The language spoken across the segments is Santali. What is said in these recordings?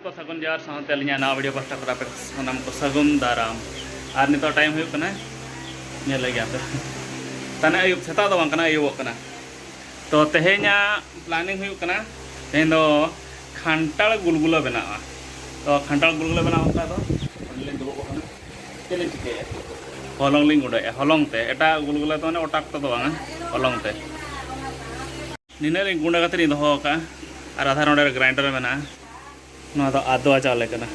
ᱠᱚ ᱥᱟᱹᱜᱩᱱ ᱡᱚᱦᱟᱨ ᱥᱟᱶᱛᱮ ᱟᱹᱞᱤᱧᱟᱜ ᱱᱟᱣᱟ ᱵᱷᱤᱰᱤᱭᱳ ᱯᱟᱥᱴᱟ ᱠᱚᱨᱟ ᱯᱮ ᱥᱟᱱᱟᱢ ᱠᱚ ᱥᱟᱹᱜᱩᱱ ᱫᱟᱨᱟᱢ ᱟᱨ ᱱᱤᱛᱚᱜ ᱴᱟᱭᱤᱢ ᱦᱩᱭᱩᱜ ᱠᱟᱱᱟ ᱧᱮᱞ ᱞᱮᱜᱮ ᱟᱯᱮ ᱛᱟᱱᱮ ᱟᱹᱭᱩᱵ ᱥᱮᱛᱟᱜ ᱫᱚ ᱵᱟᱝ ᱠᱟᱱᱟ ᱟᱹᱭᱩᱵᱚᱜ ᱠᱟᱱᱟ ᱛᱚ ᱛᱮᱦᱮᱧᱟᱜ ᱯᱞᱟᱱᱤᱝ ᱦᱩᱭᱩᱜ ᱠᱟᱱᱟ ᱛᱮᱦᱮᱧ ᱫᱚ ᱠᱷᱟᱱᱴᱟᱲ ᱜᱩᱞᱜᱩᱞᱟ ᱵᱮᱱᱟᱜᱼᱟ ᱛᱚ ᱠᱷᱟᱱᱴᱟᱲ ᱜᱩᱞᱜᱩᱞᱟ ᱵᱮᱱᱟᱣ ᱚᱱᱠᱟ ᱫᱚ ᱚᱸᱰᱮ ᱞᱤᱧ ᱫᱩᱲᱩᱵ ᱟᱠᱟᱱᱟ ᱪᱮᱫ ᱞᱤᱧ ᱪᱤᱠᱟᱹᱭᱟ ᱦᱚᱞᱚᱝ ᱞᱤᱧ ᱜᱩᱸᱰᱟᱹᱭᱮᱫᱼᱟ ᱦᱚᱞᱚᱝ ᱛᱮ ᱮᱴᱟᱜ ᱜᱩᱞᱜᱩᱞᱟ ᱫᱚ ᱢᱟᱱᱮ ᱚᱴᱟᱠ ᱛᱮᱫᱚ ᱵᱟᱝᱟ ᱦᱚᱞᱚᱝ ᱛᱮ ᱱᱤᱱᱟᱹᱜ ᱞᱤᱧ ᱜᱩᱸᱰᱟᱹ ᱠᱟᱛᱮ ᱞᱤᱧ ᱫᱚᱦᱚ ᱟᱠᱟᱫᱼᱟ ᱟᱨ ᱟᱫᱷᱟ ᱱᱚᱰᱮ ᱜᱨᱟᱭᱤᱱᱰᱟᱨ ᱢᱮᱱᱟᱜᱼᱟ ᱱᱚᱣᱟ ᱫᱚ ᱟᱫᱣᱟ ᱪᱟᱣᱞᱮ ᱠᱟᱱᱟ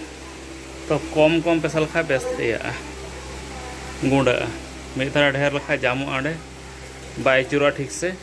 ᱛᱚ ᱠᱚᱢ ᱠᱚᱢ ᱯᱮᱥᱟ ᱞᱮᱠᱷᱟᱡ ᱵᱮᱥ ᱤᱭᱟᱹᱜᱼᱟ ᱜᱩᱸᱰᱟᱹᱜᱼᱟ ᱢᱤᱫ ᱫᱷᱟᱣ ᱰᱷᱮᱨ ᱞᱮᱠᱷᱟᱡ ᱡᱟᱢᱚᱜᱼᱟ ᱚᱸᱰᱮ ᱵᱟᱭ ᱟᱹᱪᱩᱨᱚᱜᱼᱟ ᱴᱷᱤᱠ ᱥᱮ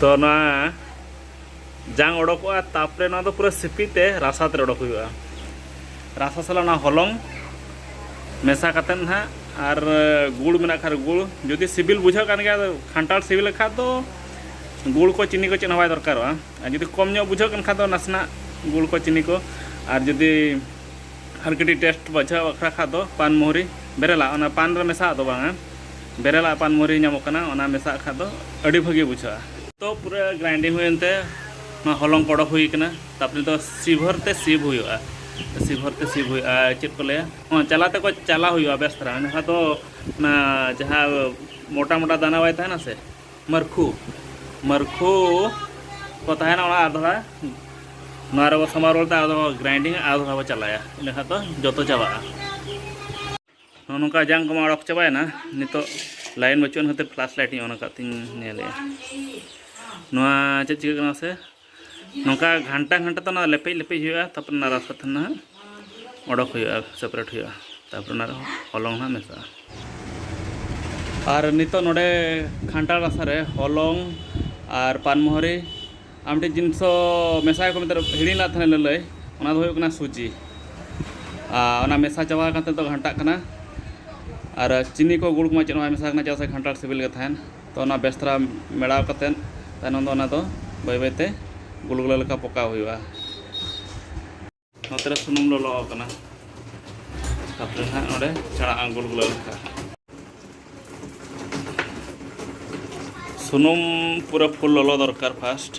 ᱛᱚ ᱱᱚᱣᱟ ᱡᱟᱝ ᱚᱰᱚᱠᱚᱜᱼᱟ ᱛᱟᱯᱚᱨᱮ ᱱᱚᱣᱟ ᱫᱚ ᱯᱩᱨᱟᱹ ᱥᱤᱯᱤ ᱛᱮ ᱨᱟᱥᱟ ᱛᱮ ᱚᱰᱚᱠ ᱦᱩᱭᱩᱜᱼᱟ ᱨᱟᱥᱟ ᱥᱟᱞᱟᱜ ᱚᱱᱟ ᱦᱚᱞᱚᱝ ᱢᱮᱥᱟ ᱠᱟᱛᱮ ᱱᱟᱦᱟᱜ ᱟᱨ ᱜᱩᱲ ᱢᱮᱱᱟᱜ ᱠᱷᱟᱱ ᱜᱩᱲ ᱡᱩᱫᱤ ᱥᱤᱵᱤᱞ ᱵᱩᱡᱷᱟᱹᱜ ᱠᱟᱱ ᱜᱮᱭᱟ ᱠᱷᱟᱱᱴᱟᱲ ᱥᱤᱵᱤᱞ ᱞᱮᱠᱷᱟᱱ ᱫᱚ ᱜᱩᱲ ᱠᱚ ᱪᱤᱱᱤ ᱠᱚ ᱪᱮᱫ ᱦᱚᱸ ᱵᱟᱭ ᱫᱚᱨᱠᱟᱨᱚᱜᱼᱟ ᱟᱨ ᱡᱩᱫᱤ ᱠᱚᱢ ᱧᱚᱜ ᱵᱩᱡᱷᱟᱹᱜ ᱠᱟᱱ ᱠᱷᱟᱱ ᱫᱚ ᱱᱟᱥᱮᱱᱟᱜ ᱜᱩᱲ ᱠᱚ ᱪᱤᱱᱤ ᱠᱚ ᱟᱨ ᱡᱩᱫᱤ ᱟᱨ ᱠᱟᱹᱴᱤᱡ ᱴᱮᱥᱴ ᱵᱩᱡᱷᱟᱹᱣ ᱵᱟᱠᱷᱨᱟ ᱠᱷᱟᱱ ᱫᱚ ᱯᱟᱱ ᱢᱩᱦᱨᱤ ᱵᱮᱨᱮᱞᱟ ᱚᱱᱟ ᱯᱟᱱ ᱨᱮ ᱢᱮᱥᱟᱜ ᱫᱚ ᱵᱟᱝᱟ ᱵᱮᱨᱮᱞ ᱟᱜ ᱯᱟᱱ ᱢᱚᱨᱤ ᱧᱟᱢᱚᱜ ᱠᱟᱱᱟ ᱚᱱᱟ ᱢᱮᱥᱟᱜ ᱠᱷᱟᱱ ᱫᱚ ᱟᱹᱰᱤ ᱵᱷᱟᱹᱜᱤ ᱵᱩᱡᱷᱟᱹᱜᱼᱟ ᱛᱚ ᱯᱩᱨᱟᱹ ᱜᱨᱟᱭᱤᱱᱰᱤᱝ ᱦᱩᱭᱮᱱ ᱛᱮ ᱱᱚᱣᱟ ᱦᱚᱞᱚᱝ ᱠᱚ ᱚᱰᱚᱠ ᱦᱩᱭ ᱠᱟᱱᱟ ᱛᱟᱨᱯᱚᱨᱮ ᱫᱚ ᱥᱤᱵᱷᱚᱨ ᱛᱮ ᱥᱤᱵᱷ ᱦᱩᱭᱩᱜᱼᱟ ᱥᱤᱵᱷᱚᱨ ᱛᱮ ᱥᱤᱵᱷ ᱦᱩᱭᱩᱜᱼᱟ ᱪᱮᱫ ᱠᱚ ᱞᱟᱹᱭᱟ ᱦᱚᱸ ᱪᱟᱞᱟ ᱛᱮᱠᱚ ᱪᱟᱞᱟ ᱦᱩᱭᱩᱜᱼᱟ ᱵᱮᱥ ᱫᱷᱟᱨᱟ ᱮᱱᱠᱷᱟᱱ ᱫᱚ ᱚᱱᱟ ᱡᱟᱦᱟᱸ ᱢᱚᱴᱟ ᱢᱚᱴᱟ ᱫᱟᱱᱟ ᱵᱟᱭ ᱛᱟᱦᱮᱱᱟ ᱥᱮ ᱢᱟᱹᱨᱠᱷᱩ ᱢᱟᱹᱨᱠᱷᱩ ᱠᱚ ᱛᱟᱦᱮᱱᱟ ᱚᱱᱟ ᱟᱨ ᱫᱷᱟᱨᱟ ᱱᱚᱣᱟ ᱨᱮᱵᱚ ᱥᱟᱢᱵᱟᱣ ᱨᱩᱣᱟᱹᱲ ᱛᱮ ᱟᱫᱚ ᱜᱨᱟᱭᱤᱱᱰᱤᱝ ᱟᱨ ᱫᱷᱟᱨᱟ ᱵᱚ ᱪᱟᱞᱟᱭᱟ ᱤᱱᱟᱹ ᱠᱷᱟᱱ ᱫᱚ ᱡᱚᱛᱚ ᱪᱟᱵᱟᱜᱼᱟ ᱱᱚᱜᱼᱚ ᱱᱚᱝᱠᱟ ᱡᱟᱝ ᱠᱚᱢᱟ ᱚᱰᱚᱠ ᱪᱟᱵᱟᱭᱮᱱᱟ ᱱᱤᱛᱚᱜ ᱞᱟᱭᱤᱱ ᱵᱟᱹᱪᱩᱜ ᱠᱷᱟᱹᱛᱤᱨ ᱯᱷᱞᱟᱥ ᱞᱟᱭᱤᱴ ᱤᱧ ᱚᱱ ᱟᱠᱟᱫ ᱛᱤᱧ ᱧᱮᱞᱮᱜᱼᱟ ᱱᱚᱣᱟ ᱪᱮᱫ ᱪᱤᱠᱟᱹᱜ ᱠᱟᱱᱟ ᱥᱮ ᱱᱚᱝᱠᱟ ᱜᱷᱟᱱᱴᱟ ᱜᱷᱟᱱᱴᱟ ᱛᱮ ᱚᱱᱟ ᱞᱮᱯᱮᱡ ᱞᱮᱯᱮᱡ ᱦᱩᱭᱩᱜᱼᱟ ᱛᱟᱨᱯᱚᱨ ᱚᱱᱟ ᱨᱟᱥᱟ ᱛᱟᱦᱮᱱ ᱱᱟᱦᱟᱜ ᱚᱰᱚᱠ ᱦᱩᱭᱩᱜᱼᱟ ᱥᱮᱯᱟᱨᱮᱴ ᱦᱩᱭᱩᱜᱼᱟ ᱛᱟᱨᱯᱚᱨ ᱚᱱᱟ ᱨᱮᱦᱚᱸ ᱦᱚᱞᱚᱝ ᱱᱟᱦᱟᱜ ᱢᱮᱥᱟᱜᱼᱟ ᱟᱨ ᱱᱤᱛᱚᱜ ᱱᱚᱰᱮ ᱜᱷᱟᱱᱴᱟ ᱨᱟᱥᱟ ᱨᱮ ᱦᱚᱞᱚᱝ ᱟᱨ ᱯᱟᱱᱢᱚᱦᱚᱨᱤ ᱟᱨ ᱢᱤᱫᱴᱮᱡ ᱡᱤᱱᱤᱥᱚ ᱢᱮᱥᱟᱭ ᱠᱚ ᱢᱮᱱᱛᱮ ᱦᱤᱲᱤᱧ ᱞᱮᱫ ᱛᱟᱦᱮᱱᱟ ᱞᱟᱹᱞᱟᱹᱭ ᱚᱱᱟ ᱫᱚ ᱦᱩᱭᱩᱜ ᱠᱟᱱᱟ ᱥᱩᱡᱤ ᱟᱨ ᱚᱱᱟ ᱢᱮᱥᱟ ᱪᱟᱵᱟ ᱟᱠᱟᱱ ᱛᱮ ᱱᱤᱛᱚᱜ ᱜᱷᱟᱱᱴᱟᱜ ᱠᱟᱱᱟ ᱟᱨ ᱪᱤᱱᱤ ᱠᱚ ᱜᱩᱲ ᱠᱚᱢᱟ ᱪᱮᱫ ᱦᱚᱸ ᱵᱟᱭ ᱢᱮᱥᱟ ᱟᱠᱟᱱᱟ ᱪᱮᱫᱟᱜ ᱥᱮ ᱠᱷᱟᱱᱴᱟᱲ ᱥᱤᱵᱤᱞ ᱜᱮ ᱛᱟᱦᱮᱱ ᱛᱚ ᱚᱱᱟ ᱵᱮᱥ ᱫᱷᱟᱨᱟ ᱢᱮᱲᱟᱣ ᱠᱟᱛᱮᱫ ᱛᱟᱭᱱᱚᱢ ᱫᱚ ᱚᱱᱟ ᱫᱚ ᱵᱟᱹᱭ ᱵᱟᱹᱭ ᱛᱮ ᱜᱩᱞ ᱜᱩᱞᱟᱹ ᱞᱮᱠᱟ ᱯᱚᱠᱟᱣ ᱦᱩᱭᱩᱜᱼᱟ ᱱᱚᱛᱮ ᱨᱮ ᱥᱩᱱᱩᱢ ᱞᱚᱞᱚ ᱟᱠᱟᱱᱟ ᱛᱟᱯᱚᱨᱮ ᱱᱟᱦᱟᱜ ᱱᱚᱰᱮ ᱪᱟᱬᱟ ᱟᱸᱜᱩᱞ ᱜᱩᱞᱟᱹᱣ ᱞᱮᱠᱟ ᱥᱩᱱᱩᱢ ᱯᱩᱨᱟᱹ ᱯᱷᱩᱞ ᱞᱚᱞᱚ ᱫᱚᱨᱠᱟᱨ ᱯᱷᱟᱥᱴ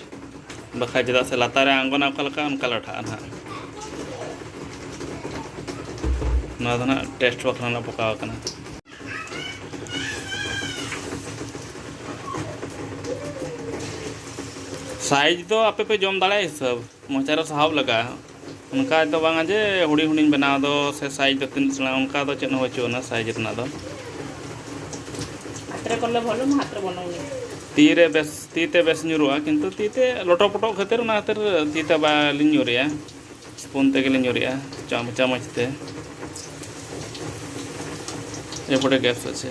ᱵᱟᱠᱷᱟᱡ ᱪᱮᱫᱟᱜ ᱥᱮ ᱞᱟᱛᱟᱨ ᱨᱮ ᱟᱸᱜᱚᱱᱟ ᱚᱠᱟ ᱞᱮᱠᱟ ᱚᱱᱠᱟ ᱞᱟᱴᱷᱟᱜᱼᱟ ᱱᱟᱦᱟᱜ ᱱᱚᱣᱟ ᱫᱚ ᱱᱟᱦᱟᱜ ᱴᱮᱥᱴ ᱵᱟᱠᱷᱨᱟ ᱱᱟᱜ ᱯᱚᱠᱟᱣ ᱟᱠᱟᱱᱟ ᱥᱟᱭᱤᱡᱽ ᱫᱚ ᱟᱯᱮ ᱯᱮ ᱡᱚᱢ ᱫᱟᱲᱮᱭᱟᱜᱼᱟ ᱦᱤᱥᱟᱹᱵᱽ ᱢᱚᱪᱟ ᱨᱮ ᱥᱟᱦᱟᱵ ᱞᱟᱜᱟᱜᱼᱟ ᱚᱱᱠᱟ ᱫᱚ ᱵᱟᱝᱟ ᱡᱮ ᱦᱩᱰᱤᱧ ᱦᱩᱰᱤᱧ ᱵᱮᱱᱟᱣ ᱫᱚ ᱥᱮ ᱥᱟᱭᱤᱡᱽ ᱫᱚ ᱛᱤᱱᱟᱹᱜ ᱥᱮᱬᱟ ᱚᱱᱠᱟ ᱫᱚ ᱪᱮᱫ ᱦᱚᱸ ᱵᱟᱹᱪᱩᱜ ᱟᱱᱟ ᱥᱟᱭᱤᱡᱽ ᱨᱮᱱᱟᱜ ᱫᱚ ᱦᱟᱛᱨᱮ ᱠᱚᱞᱮ ᱵᱷᱚᱞᱩᱢ ᱦᱟᱛᱨᱮ ᱵᱚᱞᱚᱝ ᱛᱤ ᱨᱮ ᱵᱮᱥ ᱛᱤ ᱛᱮ ᱵᱮᱥ ᱧᱩᱨᱩᱜᱼᱟ ᱠᱤᱱᱛᱩ ᱛᱤ ᱛᱮ ᱞᱚᱴᱚ ᱯᱚᱴᱚ ᱠᱷᱟᱹᱛᱤᱨ ᱚᱱᱟ ᱠᱷᱟᱹᱛᱤᱨ ᱛᱤ ᱛᱮ ᱵᱟᱞᱤᱧ ᱧᱩᱨᱮᱜᱼᱟ ᱥᱯᱩᱱ ᱛᱮᱜᱮᱞᱤᱧ ᱧᱩᱨᱮᱜᱼᱟ ᱪᱟᱢᱚᱪ ᱛᱮ ᱮᱯᱚᱨᱮ ᱜᱮᱥ ᱟᱪᱷᱮ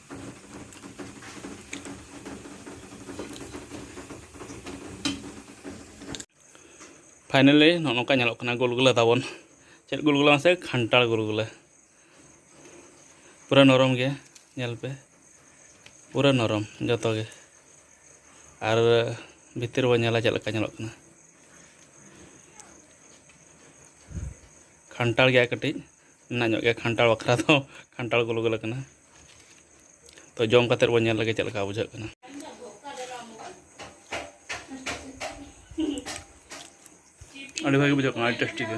ᱯᱷᱟᱭᱱᱟᱞᱤ ᱱᱚᱜᱼᱚ ᱱᱚᱝᱠᱟ ᱧᱮᱞᱚᱜ ᱠᱟᱱᱟ ᱜᱩᱞᱜᱩᱞᱟᱹ ᱛᱟᱵᱚᱱ ᱪᱮᱫ ᱜᱩᱞᱜᱩᱞᱟᱹ ᱢᱟᱥᱮ ᱠᱷᱟᱱᱴᱟᱲ ᱜᱩᱞᱜᱩᱞᱟᱹ ᱯᱩᱨᱟᱹ ᱱᱚᱨᱚᱢ ᱜᱮᱭᱟ ᱧᱮᱞ ᱯᱮ ᱯᱩᱨᱟᱹ ᱱᱚᱨᱚᱢ ᱡᱚᱛᱚ ᱜᱮ ᱟᱨ ᱵᱷᱤᱛᱤᱨ ᱵᱚᱱ ᱧᱮᱞᱟ ᱪᱮᱫ ᱞᱮᱠᱟ ᱧᱮᱞᱚᱜ ᱠᱟᱱᱟ ᱠᱷᱟᱱᱴᱟᱲ ᱜᱮᱭᱟ ᱠᱟᱹᱴᱤᱡ ᱢᱮᱱᱟᱜ ᱧᱚᱜ ᱜᱮᱭᱟ ᱠᱷᱟᱱᱴᱟᱲ ᱵᱟᱠᱷᱨᱟ ᱫᱚ ᱠᱷᱟᱱᱴᱟᱲ ᱜᱩᱞ ᱜᱩᱞ ᱟᱠᱟᱱᱟ ᱛᱚ ᱡᱚᱢ ᱠᱟᱛᱮ ᱵᱚᱱ ᱧᱮᱞ ᱞᱮᱜᱮ ᱪᱮᱫ ᱞᱮᱠᱟ ᱵᱩᱡᱷᱟᱹᱜ ᱠᱟᱱᱟ ᱟᱹᱰᱤ ᱵᱷᱟᱜᱮ ᱵᱩᱡᱷᱟᱹᱜ ᱠᱟᱱᱟ ᱟᱹᱰᱤ ᱴᱮᱥᱴᱤ ᱜᱮ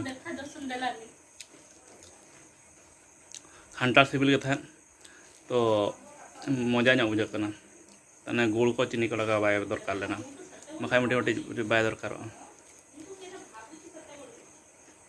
ᱠᱷᱟᱱᱴᱟᱲ ᱥᱤᱵᱤᱞ ᱜᱮ ᱛᱟᱦᱮᱸᱫ ᱛᱚ ᱢᱚᱡᱟ ᱧᱚᱜ ᱵᱩᱡᱷᱟᱹᱜ ᱠᱟᱱᱟ ᱛᱟᱦᱚᱞᱮ ᱜᱩᱲ ᱠᱚ ᱪᱤᱱᱤ ᱠᱚ ᱞᱟᱜᱟᱣ ᱵᱟᱭ ᱫᱚᱨᱠᱟᱨ ᱞᱮᱱᱟ ᱵᱟᱠᱷᱟᱡ ᱢᱤᱫᱴᱤᱡ ᱢᱤᱫᱴᱤᱡ ᱵᱟᱭ ᱫᱚᱨᱠᱟᱨᱚᱜᱼᱟ